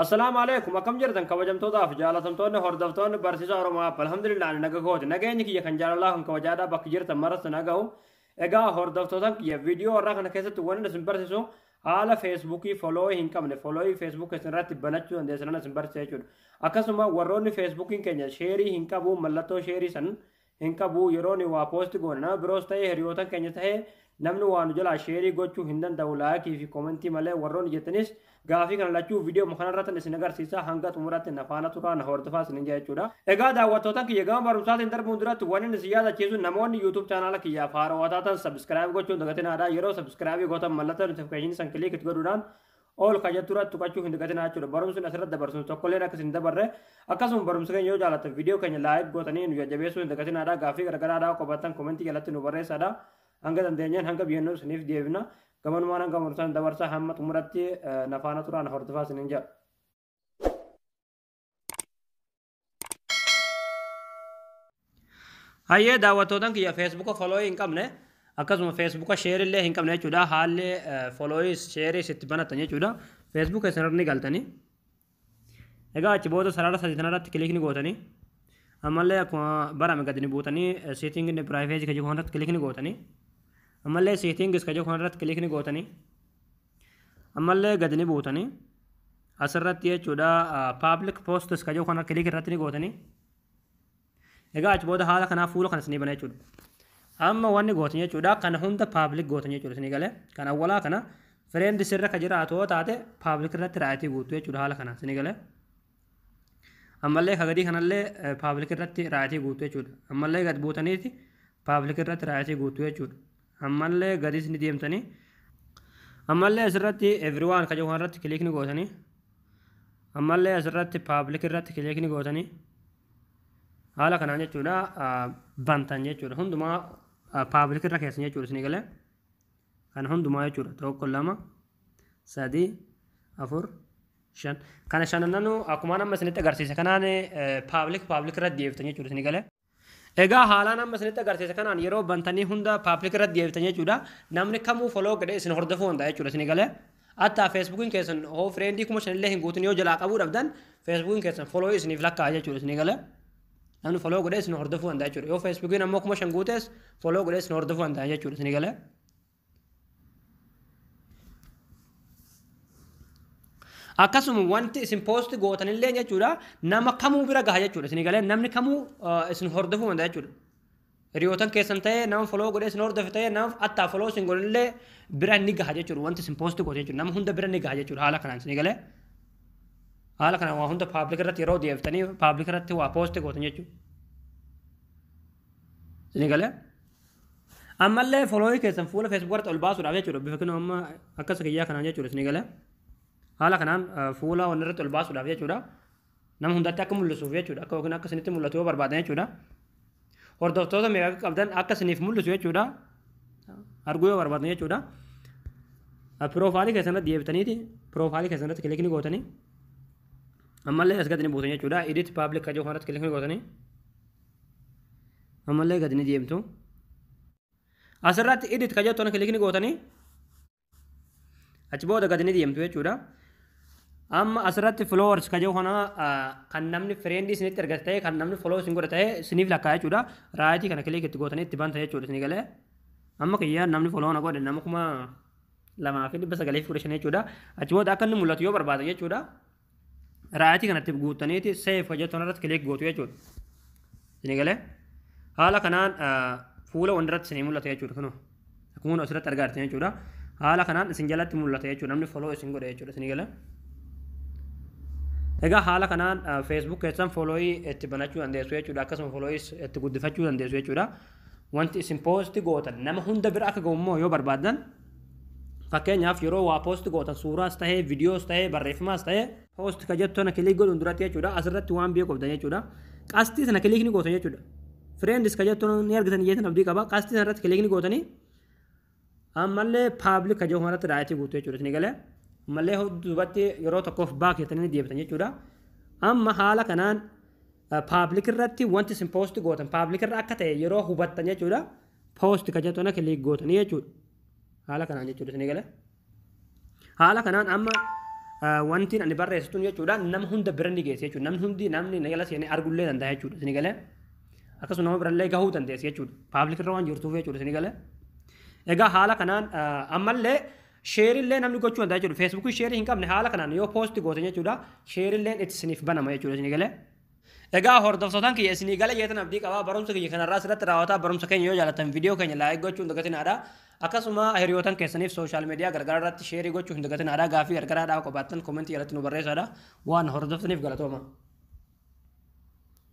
Assalaamu alaikum akkam jirtan kabajamtootaa fi jaalatamtoonni hordoftoonni barsiisaa Oromoo App alhamdulillah ani naga kooti nageenyi kiyya kan jaalalaa kan kabajaadhaa bakka jirtan maratti naga'u egaa hordoftootan kiyya viidiyoo warraa kana keessatti wanni isin barsiisu haala feesbuukii foloo'ii hin qabne foloo'ii feesbuukii isin irratti banachuu dandeessan isin barsiisa jechuudha akkasuma warroonni feesbuukiin keenya sheerii hin qabu mallattoo sheerii san hin qabu yeroo ni waa post goona nama biroos ta'ee hiriyootan keenya ta'ee namni waa nu jalaa sheerii gochuu hin danda'u laayikii fi koomentii malee warroonni jettanis gaafii kana lachuu viidiyoo kana irratti isin agarsiisa hanga xumuraatti na faana turaa na hordofaa isin jaa jechuudha. Egaa daawwattootan kiyya gama barumsaatiin darbuun duratti waan inni isin yaadachiisu namoonni YouTube chaanaala kiyya faaroo taatan sabiskiraayib gochuun dagatinaa dha yeroo sabiskiraayibii gootan mallattoo notifikashinii san kiliikit godhuudhaan All ka jettu irratti tuqachuu hin dagatinaa jechuudha. Barumsi asirratti dabarsinu tokkolleen akka isin dabarre akkasuma barumsa keenya yoo jaallattan viidiyoo keenya laayik gootanii nu jajjabeessuu hin dagatinaadha. Gaaffii garaagaraa dhaa qabaattan komentii jalatti nu barreessaadha. Hanga dandeenyeen hanga biyyannoo isiniif deebina. Gamanumaan hanga murtaan dabarsaa hamma xumuratti nafaana turaan hordofaa isiniin jedha. Hayyee daawwattootan kiyya feesbuuka folooyii hin qabne akkasuma feesbuuka sheerii illee hin qabne jechuudha haalli folooyii sheerii itti banatan jechuudha feesbuuka isaanirra ni galtanii egaa achi booda sarara sadii kanarratti kilikni gootanii ammallee akkuma barame gadi ni buutanii seetingii inni piraayiveesii kan jedhu kanarratti kilikni gootanii ammallee seetingis kan jedhu kanarratti kilikni gootanii Ammallee gadi ni buutanii asirratti jechuudha public posts ka jiru kana click irratti ni gootanii egaa achi booda haala kanaa fuula kana isinii bana jechuudha. Amma wanni gootan jechuudha kana hunda public gootan jechuudha isinii galee kan awwalaa kana friend sirra ka jiraatu yoo taate public irratti raayitii guutu jechuudha haala kanaan isinii galee. Ammallee ka gadii kanallee public irratti raayitii guutu jechuudha. Ammallee gad buutaniiti public irratti raayitii guutu jechuudha. ammallee gadis ni deemtanii ammallee asirratti everyone ka jedhu irratti kiliik ni gootanii ammallee asirratti paablik irratti kiliik ni gootanii haala kanaan jechuudha bantan jechuudha hundumaa paablik irra keessan jechuudha isin galee kan hundumaa jechuudha tokko lama sadii afur shan kana shanananuu akkuma amma isinitti agarsiise kanaan paablik paablik irra deebiftan jechuudha isin galee Egaa haalaan amma isinitti agarsiise kanaan yeroo bantanii hunda paaplik irratti deebitan jechuudha. Namni kamuu foloo godhee isin hordofuu danda'a jechuudha isin galee. Attaa feesbuukiin keessan hoo fireendii kuma shanillee hin guutin yoo jalaa qabuu dhabdan feesbuukiin keessan foloo isiniif lakkaa'a jechuudha isin galee. Namni foloo godhee isin hordofuu danda'a jechuudha. Yoo feesbuukiin ammoo kuma shan guutes foloo godhee isin hordofuu danda'a jechuudha isin galee. akkasuma wanti isin poosti gootanillee jechuudha nama kamuu bira gaha jechuudha isin galee namni kamuu isin hordofuu danda'a jechuudha. Hiriyootan keessan ta'ee nama foloo godhee isin hordofe ta'ee nama attaa foloo isin godhanillee bira ni gaha jechuudha wanti isin poosti goote jechuudha nama hunda bira ni gaha jechuudha haala kanaan isin galee. Haala kanaan waa hunda paablik irratti yeroo deebiftanii paablik irratti waa poosti gootan jechuudha. Isin galee. Ammallee folooyii keessan fuula Facebook irratti ol baasuudhaaf jechuudha. Bifa kinoo amma akkas kiyyaa kanaan jechuudha isin eegale. Haala kanaan fuula wanni irratti ol baasuudhaaf jechuudha. Nama hundatti akka mul'isuuf jechuudha. Akka yookiin akka isinitti mul'atu yoo barbaadan jechuudha. Hordoftoota meeqa akka qabdan akka isiniif mul'isu jechuudha. Arguu yoo barbaadan jechuudha. Piroofaalii keessan irratti deebitaniiti. Piroofaalii keessan irratti kilikni gootanii. Ammallee as gadi ni buusan jechuudha. Edit public kajoo kanarratti kilikni gootanii. ammallee gadi ni deemtu asirratti edit ka jettu kilik ni gootanii achi booda gadi ni deemtu jechuudha amma asirratti followers ka jedhu kana kan namni friend isinitti ergate ta'e kan namni follow isin godhe ta'e isiniif lakkaa jechuudha raayitii kana kilik itti gootanii itti banta jechuudha isinii galee amma kiyyaa namni follow na godhe nama kuma lamaa fi dhibba sagalii fi kudha shan jechuudha achi booda akka inni mul'atu yoo barbaada jechuudha raayitii kanatti guuttaniiti seef kan jettu irratti kilik gootu jechuudha. Isin galee haala kanaan fuula wandirratti isin mul'ata jechuudha kunoo akkuma nu asirratti argaa jirtan jechuudha. Haala kanaan isin jalatti mul'ata jechuudha namni foloo isin godhe jechuudha isin galee. Egaa haala kanaan Facebook keessan foloo'ii itti banachuu dandeessu jechuudha akkasuma foloo'ii itti guddifachuu dandeessu jechuudha. Wanti isin poosti gootan nama hunda bira akka ga'u immoo yoo barbaaddan fakkeenyaaf yeroo waa poosti gootan suuraas ta'ee viidiyoos ta'ee barreeffamaas ta'ee poosti ka jettu sana kiliik godhuun duratti jechuudha asirratti waan biyya qoftan jechuudha qastii sana kiliik ni gootan jechuudha. Friends ka jettu ni argitan jeetan abdii qaba qastii sana irratti kiliik ni gootanii ammallee paablik ka jiru kanarratti raayitii guutuu jechuudha isin galee ammallee duubatti yeroo tokkoof baak jettanii deebitan jechuudha amma haala kanaan paablik irratti wanti isin poosti gootan paablik irra akka ta'e yeroo hubattan jechuudha poosti ka jettu kana kiliik gootanii jechuudha haala kanaan jechuudha isin galee. Haala kanaan amma wantiin ani barreessu tun jechuudha nama hunda bira ni geesse jechuudha. Namni hundi namni na jala seenee argullee danda'a jechuudha. Isin galee akkasuma nama birallee gahuu dandeessi jechuudha. Paablik irra waan jirtuuf jechuudha isin galee. Egaa haala kanaan ammallee sheerillee namni gochuu danda'a jechuudha. Feesbuukii sheerii hin qabne haala kanaan yoo poosti goote jechuudha sheerilleen itti isiniif banama jechuudha isin galee. Egaa hordoftootaan kiyya isinii gala jeetan abdii qabaa barumsa kiyya kanarraa sirratti raawwataa barumsa keenya yoo jaalatan viidiyoo keenya laayik gochuu hin dagatinaadha. Akkasuma hiriyootan keessaniif sooshaal miidiyaa gargaraa irratti sheerii gochuu hin dagatinaadha. Gaaffii gargaraa dhaawuu qabaattan komentii jalatti nu barreessaadha. Waan hordoftaniif galatooma.